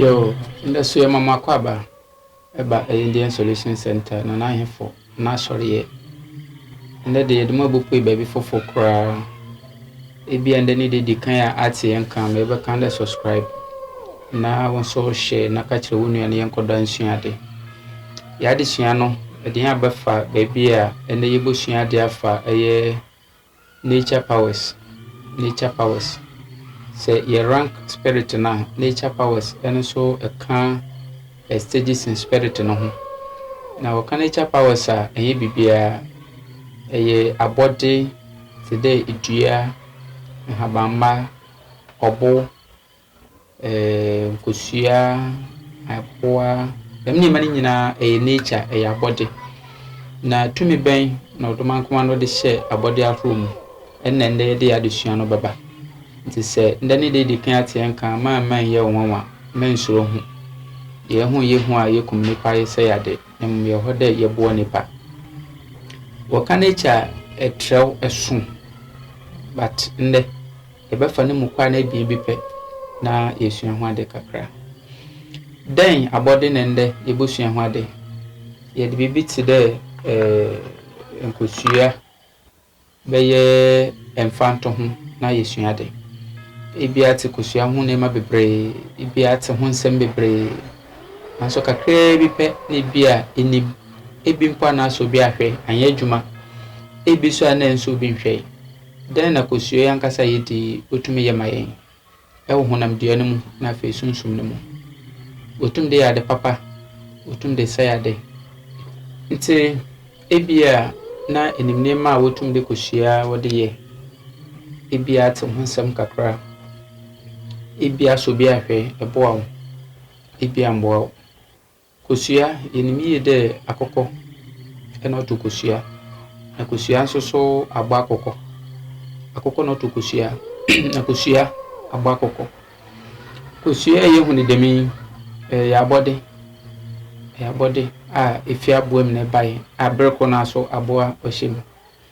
Yoo, ndɛ so yɛma mo akɔaba ba Indian Solution Centre, Nana Ahemfo n'asɔreyɛ. Ndɛ de yɛde mo abopue baabi fofor koraa. Ebia ndɛ ne da edzi kan a atse hɛn nka, ma ebɛka dɛ subscribe na wo so share na ka kyerɛ wo nua na yɛnkɔ do ansua adze. Yɛ adzesua no edze hɛn abɛfa beebi a ndɛ yebosua adze afa ɔyɛ nature powers, nature powers. Sɛ yɛ rank spirit no a, nature powers no so ka. Esteji sen Spirit no ho. Na wɔka nature powers a, ɛnyɛ biribiara. Ɛyɛ abɔde te dɛ dua, nhabamma, ɔbo, ɛɛm kosua, aboa, dɛm nneɛma no nyinaa ɛyɛ nature, ɛyɛ abɔde. Na tumi bɛn na Ɔdomankoma no de hyɛɛ abɔde ahorow mu? Ɛnna nnɛ yɛde yɛn adesua no bɛba. Enti sɛ nnɛ ne deɛ ɛdi kan ateɛ nka a, mma ɛmma ɛnyɛ wo nwanwa. Mma nsuro ho. Yei ho nyɛ hu a yɛkum nnipa yi sɛ yɛade, na mmom yɛwɔ hɔ dɛ yɛboa nnipa. Wɔka nature a, ɛtrɛw, ɛso. But nnɛ, yɛbɛfa ne mu kwan no abien bi pɛ na yɛasua ho ade kakra. Dɛn abɔde na nnɛ yɛbɛsua ho ade? Yɛde biribi te dɛ eh, nkosua, bɛyɛ mfantoho na yɛasua ade. Ebia te kosua ho nneɛma bebree, ebia te ho nsɛm bebree, nanso kakraa bi pɛ na ebia ɛnim. Ebi mpo a na asɔ obi ahwɛ, anyɛ adwuma. Ebi nso a na ɛnsɔ obi nhwɛe. Dɛn na kosua yi ankasa a yɛdi yi tumi yɛ ma yɛn? wɔ honam dua no mu na afei sunsum no mu. Otum de yɛ ade papa, otum de sɛe ade. Ntsi ebia na enyim nneɛma a wotum de kosua a wɔde yɛ. Ebia atse ho nsɛm kakra, ebia asɔ bi ahwɛ, ɛboa wo, ebia ammboa wo. Kosua, yenim yie dɛ akokɔ na ɔto kosua, na kosua nso so abɔ akokɔ. Akokɔ na ɔto kosua, na kosua abɔ akokɔ. Kosua a yɛhu no dɛm yi, ɛyɛ abɔde, ɛyɛ abɔde a ɛfiri aboa mu na ɛbaeɛ a berɛ korɔ no ara nso aboa ɔhyɛ mu.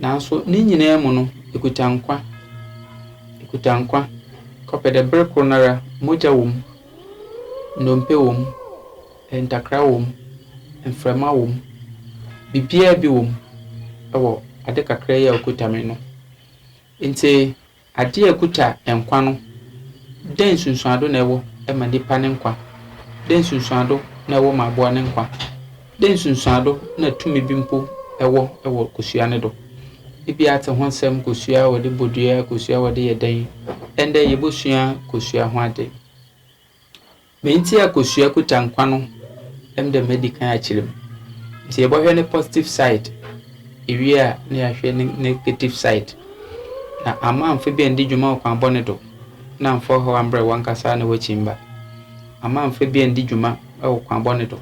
Naaso ne nyina mu no, ekuta nkwa. Ekuta nkwa kɔpɛ dɛ ber kor noara mogya wɔ mu, nnompe wɔ mu, ntakra wɔ mu, mframa wɔ mu, biribiara bi wɔ mu wɔ adze kakra yi a okuta me no. Ntsi. Ade a ɛkuta nkwa no, dɛn nsunsuando na ɛwɔ ma nipa ne nkwa? Dɛn nsunsuando na ɛwɔ ma aboa ne nkwa? Dɛn nsunsuando na tumi bi mpo wɔ wɔ kosua no do? Ebia atse ho nsɛm, kosua a wɔde bɔ dua, kosua a wɔde yɛ dɛn. Ndɛ yebosua kosua ho adze. Me ntsi a kosua kuta nkwa no emi dɛ medi kan akyerɛ mu ntsi yɛbɔhwɛ ne positive side ewie a na yɛahwɛ ne negative side na amma ammfa bi anndi dwuma ɔkwan bɔne do na ammfa ɔhaw ammbrɛ wankasa na w'ekyimba amma ammfa bi anndi dwuma wɔ kwan bɔne do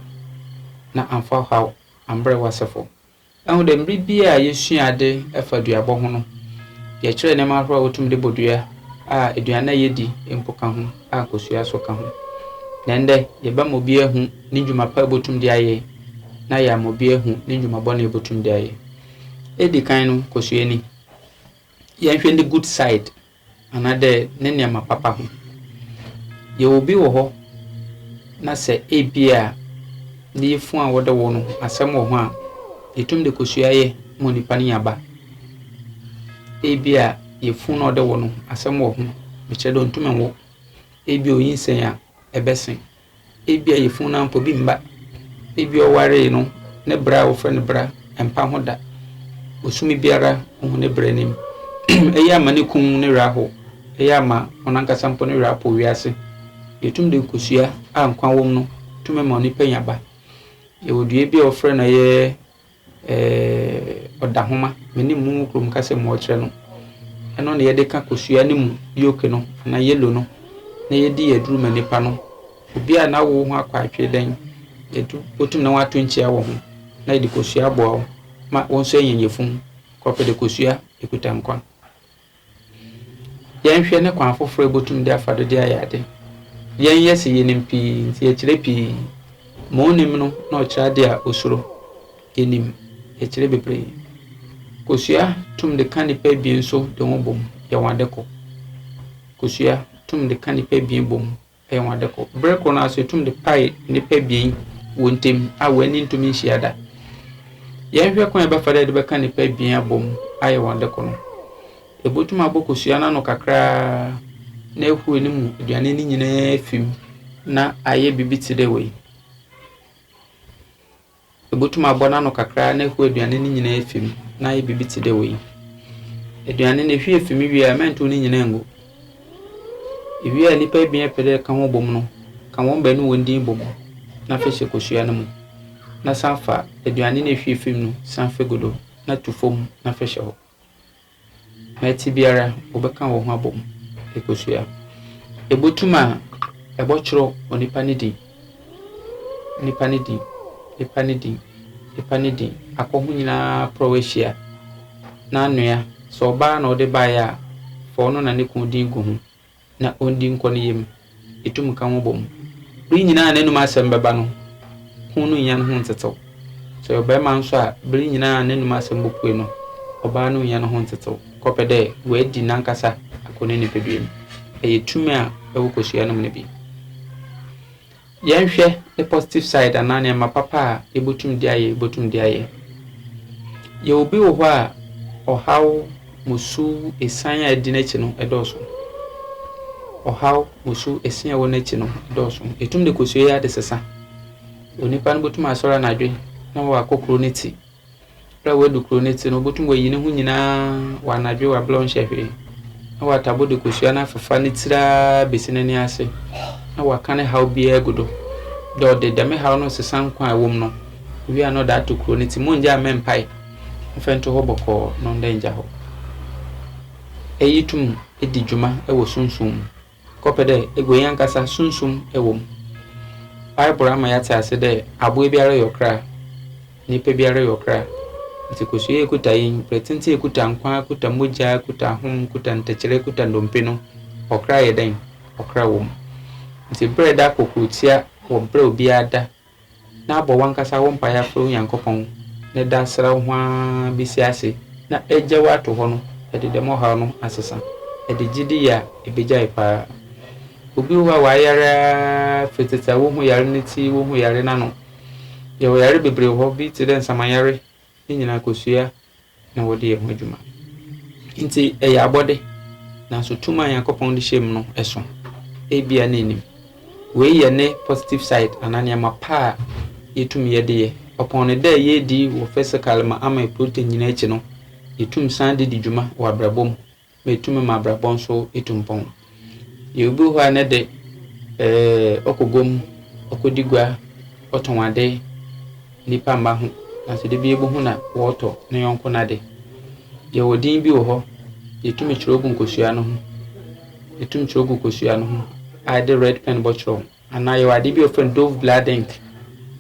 na ammfa ɔhaw ammbrɛ w'asefo. Ɛho dɛ, mber biara a yesua adze fa duabɔ ho no, yɛkyerɛ nneɛma ahorow a wotum dze bɔ dua, a eduan a yedi mpo ka ho, a kosua so ka ho. Na ndɛ, yɛbɛma obi ehu ne ndwuma pa a obotum dze ayɛ, na yɛama obi ehu ne ndwuma bɔn a obotum dze ayɛ. Edzi kan no, kosua ni. Yɛnhwɛ ne good side, anaadɛ ne nneɛma papa ho. Yɛwɔ bi wɔ hɔ na sɛ ebia ne yafunu a wɔde wo no asɛm wɔ ho a, yetum de kɔ suayɛ ma onipa no nya ba. Ebia yafunu na ɔde wo no asɛm wɔ ho, mekyerɛ dɛ onntum nnwo. Ebia onyinsɛn a, ɛbɛsen. Ebia yafunu no ara mpo bi mma. Ebia ɔwaree no, ne bra a wɔfrɛ no bra mpa ho da. Bosome biara ohu ne bra anim. Eyi ama ne kunu ne werɛ ahow. Eyi ama ɔno ankasa mpo ne werɛ apow wiase. Nea etumi de nkosua a nkwa wom no tumi ma onipa nya ba. Yɛwɔ dua bi a wɔfrɛ no ɛyɛ. Eh, Ɔdahoma, me ne mu wɔ kurom kasa mu ɔkyerɛ no. Ɛno na yɛde ka kosua no mu yolk no anaa yellow no na yɛdi aduru ma nipa no. Obi a n'awo ho akɔ atwee dɛn, yɛtu, wotum ne ho ato nkyia wɔ ho na yɛde kosua boa wo ma wo nso anya yafunu. Kɔpɛ de kosua ekuta nkwa. Yɛnhwɛ ne kwan fofor a yebotum dze afa do dze ayɛ adze. Yɛnnyɛ se yenyim pii ntsi yɛkyerɛ pii. Ma onnyim no na ɔkyerɛ adze a osuro. Yenyim, yɛkyerɛ beberee. Kosua tum dze ka nyimpa ebien so dze hɔn bɔ mu yɛ hɔn adze kor. Kosua tum dze ka nyimpa ebien bɔ mu. Ɛyɛ wɔn ade koro. Bere koro no ara nso, etum de pae nnipa abien wɔn ntam a wɔn ani ntumi nhyia da. Yɛnhwɛ kwan a ɛbɛfa dɛ yɛde bɛka nnipa abien abom ayɛ wɔn ade koro no. Ebotum abɔ kosua no ano kakraa na ahuru ne mu aduane no nyinaa afi mu na ayɛ biribi te dɛ wei. Ibotum abɔ n'ano kakra na ehue eduane no nyina efi mu na ayɛ biribi tse dɛ wei. Eduane no ehue fi mu wie a, mma nntow ne nyina nngu. Iwie a nyimpa ebien a epɛ dɛ eka ho bɔ mu no, ka hɔn beenu hɔn dzin bɔ mu na fa hyɛ kosua no mu na san fa eduane no a ehue fi mu no san fa gu do na tu famu na fa hyɛ hɔ. na ɛtse biara wɔbɛkã hɔnho abɔ mu ekosua. Ibotum a, ebɔkyerɛw onipa ne dzin, nyimpa ne dzin, nyimpa ne dzin, nyimpa ne dzin, akɔ ho nyina prɔw ehyia, n'anoa, sɛ ɔbaa na ɔdze bae a, fa ɔno na no kun dzin gu ho, na ondi nkɔ ne yamu, etum ka hɔn bɔ mu. Ber nyina a n'anomu asɛm bɛba no, kun no nnya no ho nntsetsew. Sɛ ɔyɛ ɔbarima so a, ber nyina a n'anomu asɛm bopue no, ɔbaa no nnya no ho nntsetsew kɔpɛ dɛ oedzi nankasa akɔ ne nyimpadua mu. Ɛyɛ tum a ɔwɔ kosua no mu no bi. Yɛnhwɛ ne positive side anaa nneɛma papa a yɛbotum de ayɛ yɛbotum de ayɛ. Yɛwɔ bi wɔ hɔ a ɔhaw, musu, esian a ɛdi n'akyi no ɛdɔɔso. Ɔhaw, musu, esian a ɛwɔ n'akyi no ɛdɔɔso. Etum de kosua yɛ adesesa. Onipa no botum asɔr anadwe na ɔakɔ kuro ne ti. Berɛ a wadu kuro no ti no, ɔbɛtum wayi ne ho nyinaa wɔ anadwo wɔ aberɛ a ɔnhyɛ hwee, na watabo de kosua no afefa ne tiri ara bɛsi n'ani ase, na waka ne haw biara agu do, dɛ ɔde dɛm haw no resesa nkwa a ɛwom no, owie a na ɔde ato kuro no ti. Mongyaa mmɛ mpae mfa ntu hɔ bɔkɔɔ no ndɛ ngya hɔ. Eyi tum di dwuma wɔ sunsum mu. kɔpɛ dɛ egua yi ankasa sunsum wɔ mu. Bible ama yɛatse ase dɛ abowa biara yɛ ɔkra, nyimpa biara yɛ ɔkra. Ntsi kosua a ekuta yi, mprɛtsentsi a ekuta nkwa, ekuta mogya, ekuta ahom, ekuta ntɛkyerɛ, ekuta ndompe no, ɔkra yɛ dɛn? Ɔkra wɔ mu. Ntsi ber a eda kɔ kurutsia wɔ ber a obiara da na bɔ wankasa wo mpaeɛ frɛ wo Nyankopɔn ne da srɛ wo ho ara bɛsi ase na agya wo ato hɔ no ɛde dɛm ɔhaw no asesa ɛde gyidi yɛ a ɛbɛgyae paa obi wɔ hɔ a wayare ara firi tete a wo ho yare no ti wo ho yare no ano yɛwɔ yare bebree wɔ hɔ bi te dɛ nsamanyare ne nyinaa kosua na wɔde yɛ ho adwuma. Enti ɛyɛ abɔde, nanso tumi a Nyankopɔn de hyɛ mu no sõ. Ebia na ennim. Wei yɛ ne positive side anaa nneɛma pa a yetumi yɛ de yɛ. Ɔpɔn ne dɛ yedi wɔ physically ma ama protein nyinaa akyi no, yetum san de di dwuma wɔ abrabɔ mu metu me m'abrabɔ nso tu mpɔn. Yɛwɔ bi wɔ hɔ a ne de, eh, ɔkɔ gua mu, ɔkɔdi gua, ɔtɔn ade, nnipa mma ho, nanso da bi yɛbɛhu na ɔretɔ ne yɔnko no ade. Yɛwɔ din bi wɔ hɔ, yɛtumi twerɛ gu nkosua no ho, yɛtumi twerɛ gu kosua no ho a yɛde red pen bɛtwerɛ ho. Anaa yɛwɔ adeɛ bi a wɔfrɛ no dove blood ink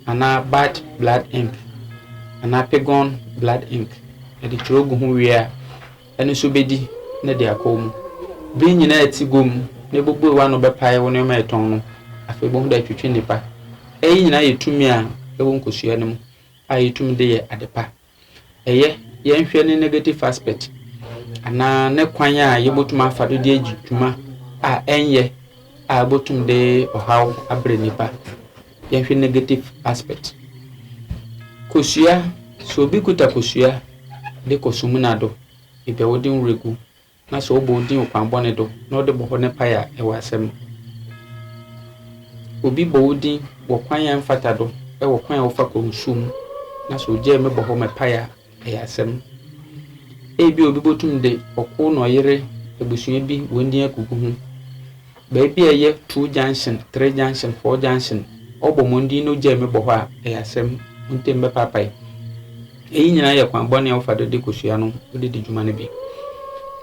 anaa bat blood ink anaa pigon blood ink yɛde twerɛ gu ho wie a ɛno nso bɛdi na de akɔ mu bere nyinaa ɛte gom na ɛbobue w'ano bɛpae wo nneɛma ɛtɔn no afei bohu dɛ twetwe nnipa ɛyi nyinaa yɛ tumi a ɛwɔ nkosua no mu a yɛtumi de yɛ adepa Ɛyɛ, yɛnhwɛ ne negative aspect anaa ne kwan a yebotum afa do de edzi dwuma a ɛnnyɛ a obotum de ɔhaw abrɛ nyimpa. Yɛnhwɛ negative aspect. Kosua, sɛ obi kitsa kosua de kɔ sumina do, ebɛn wo dze nwura gu? Na sɛ ɔbɔ wo din ɔkwanbɔne do na ɔde bɔhɔ ne pae a, ewɔ asɛm. Obi bɔ wo din wɔ kwan a ɛmfata do, wɔ kwan a wɔfa kɔ nsu mu, na sɛ ogyaa me bɔhɔ me pae a, ɛyɛ asɛm. Ebia obi botum de ɔko na ɔyere ebusua bi hɔn din egugu ho. Baabi a ɛyɛ two junction, three junction, four junction, ɔbɔ mo ndin no gyae me bɔ hɔ a, ɛyɛ asɛm. Mo ntam bɛpaapae. Eyi nyinaa yɛ kwan bɔne a wofa do de kosua no wode di dwuma no bi.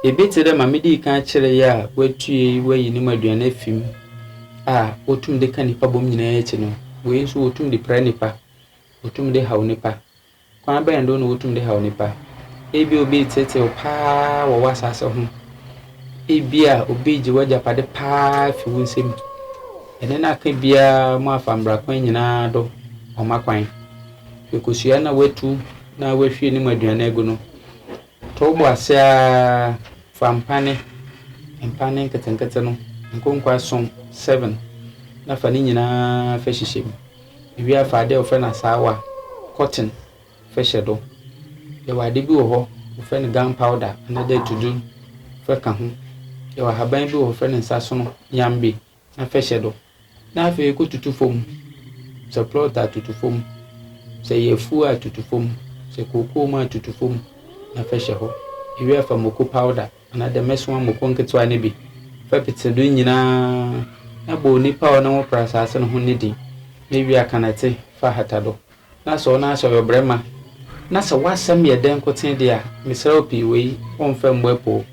Biribi tse dɛ ma midii kan kyerɛe a woetue woeyi no mu aduan efi mu a wotum de ka nyimpa bɔ mu nyinaa akyi no, wei so wotum de pira nyimpa, wotum de haw nyimpa. Kwan bɛn do na wotum de haw nyimpa? Ebia obi retseetsee wo paa wɔ w'asaase ho. Ebia obi regye w'agyapade paa efi wo nsamu. Ene no aka biara moafa mbra kwan nyina do wɔama kwan. Ekosua na woetu na woehwie no mu aduane egu no, To wo bo ase ara fa mpane, mpane nketenkete no nkonkɔ ason, seven, na fa ne nyinaa fa hyehyɛ mu. Iwie a fa ade a wɔfrɛ no asaawa, cotton, fa hyɛ do. Yɛwɔ ade bi wɔ hɔ wɔfrɛ no gunpowder anaadɛ atudur fa ka ho. Yɛwɔ ahaban bi wɔ hɔ wɔfrɛ no nsasono, nyambe. na fɛ hyɛ do na afei ekotutu famu, sɛ plɔt a tutu famu, sɛ ɛyɛ efuw a tutu famu, sɛ kookoo mu a tutu famu na fɛ hyɛ hɔ. Iwie a fa moko pawda anaa dɛm ɛsoa moko nketsewa no bi fɛ petse do nyina na bɔ onipa a ɔnam wo prɛ asaase no ho no ne dzin na iwie a ka nɛtse fa hata do. Na sɛ ɔno ara sɛ ɔyɛ ɔbarima, na sɛ w'asɛm yɛ dɛ nkotsee de a, meserɛ wo pii, wei wɔmmfa mmu apoo.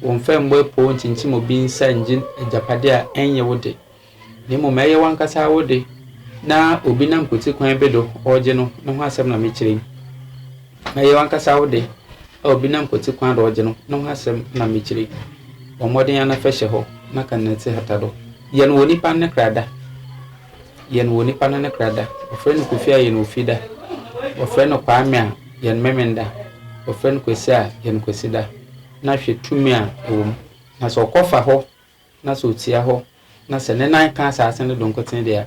Wɔmmfa mmu apoo nkyinkyim obi nsa nngye agyapade a ɔnnyɛ wo de, na mbom ɔyɛ wankasa ara wo de, na obi nam kotsi kwan bi do ɔregye no, no ho asɛm na mekyerɛ yi. Ɔyɛ wankasa ara wo de, a obi nam kotsi kwan do ɔregye no, no ho asɛm na mekyerɛ yi. Bɔ mbɔden ara na fa hyɛ hɔ, na ka no na tsi hata do. Yɛ no wɔ nyimpa no ne kra da. Yɛn wɔ nipa no ne kra da. Wɔfrɛ no Kofi a yɛn wɔ fi da. Wɔfrɛ no Kwame a yɛn memen da. Wɔfrɛ no Kwesi a yɛn Kwesi da. Na hwɛ tumi a ɛwɔ mu. Na sɛ ɔkɔ fa hɔ na sɛ ɔtia hɔ na sɛ ne nan ka asaase no do nkoten deɛ a,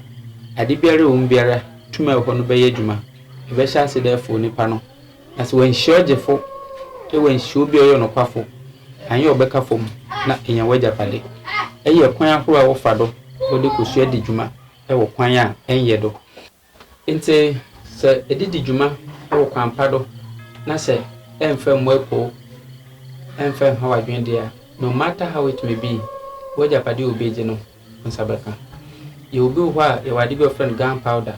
ade biara a ɛwɔ mu biara tumi a ɛwɔ hɔ no bɛyɛ adwuma. Ɛbɛhyɛ ase dɛ ɛfow nipa no. Na sɛ wanhyira ɔgyefo wɔ anhyira obi a ɔyɛ ɔnokwafo, anyɛ ɔbɛka fam na enya w'agyapade. Eyi yɛ kwan ahorow a wɔfa do wɔde kosua di dwuma wɔ kwan a ɛnyɛ do. Ntsi sɛ edze di dwuma wɔ kwan pa do na sɛ ɛmmfa mmuae poo, ɛmmfa nnhaw adwen de a, no matter how it may be, w'agyapade a obi egye no, nsa bɛka. Yɛwɔ bi wɔ hɔ a, yɛwɔ ade bi a wɔfrɛ no gunpowder.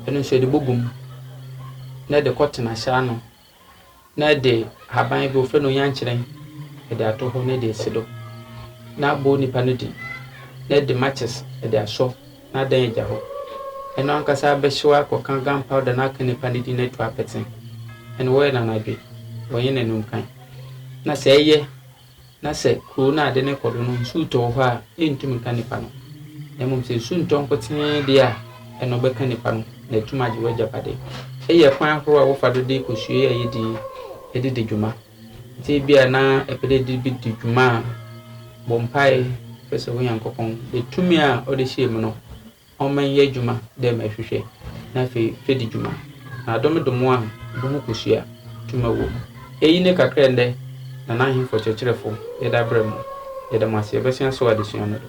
Ɛno nso yɛde bɔ gum na ɛde kɔ tena hyɛ ano na ɛde haban bi wɔfrɛ no oyankyerɛn ɛde ato hɔ na ɛde asi do na abɔ nipa no din na ɛde matches ɛde asɔ na adan agya hɔ. Ɛno ankasa bɛhyew akɔka gunpowder no aka nipa no din na atu apɛtsen. Ɛno wɔyɛ no anadwe, wɔnyɛ no anumkan. Na sɛ ɛyɛ na sɛ kurow no a ade no rekɔ do no nsu retɔ wɔ hɔ a, entum nka nnipa no, na mmom sɛ nsu ntɔ nkotsee de a, nna ɔbɛka nnipa no, na etum agye w'agyapade. Iyi yɛ kwan ahorow a wɔfa do de kosua yi a yedzi yi dze di dwuma. Ntsi ebia na epɛ dɛ edze bi di dwuma a, bɔ mpaa, frɛ sɛ wo Nyankopɔn dɛ tumi a ɔda hyia mu no, ɔmma nyɛ edwuma dɛ ma ehwehwɛ, na afei fedzi dwuma, na adom do mboa a boho kosua tum wɔ mu. Eyi nye kakra a ndɛ Nanahenfo Kyerɛkyerɛfo yɛdze abrɛ mo. Yɛda mo ase, yɛbɛsua so wɔ adzesua no do.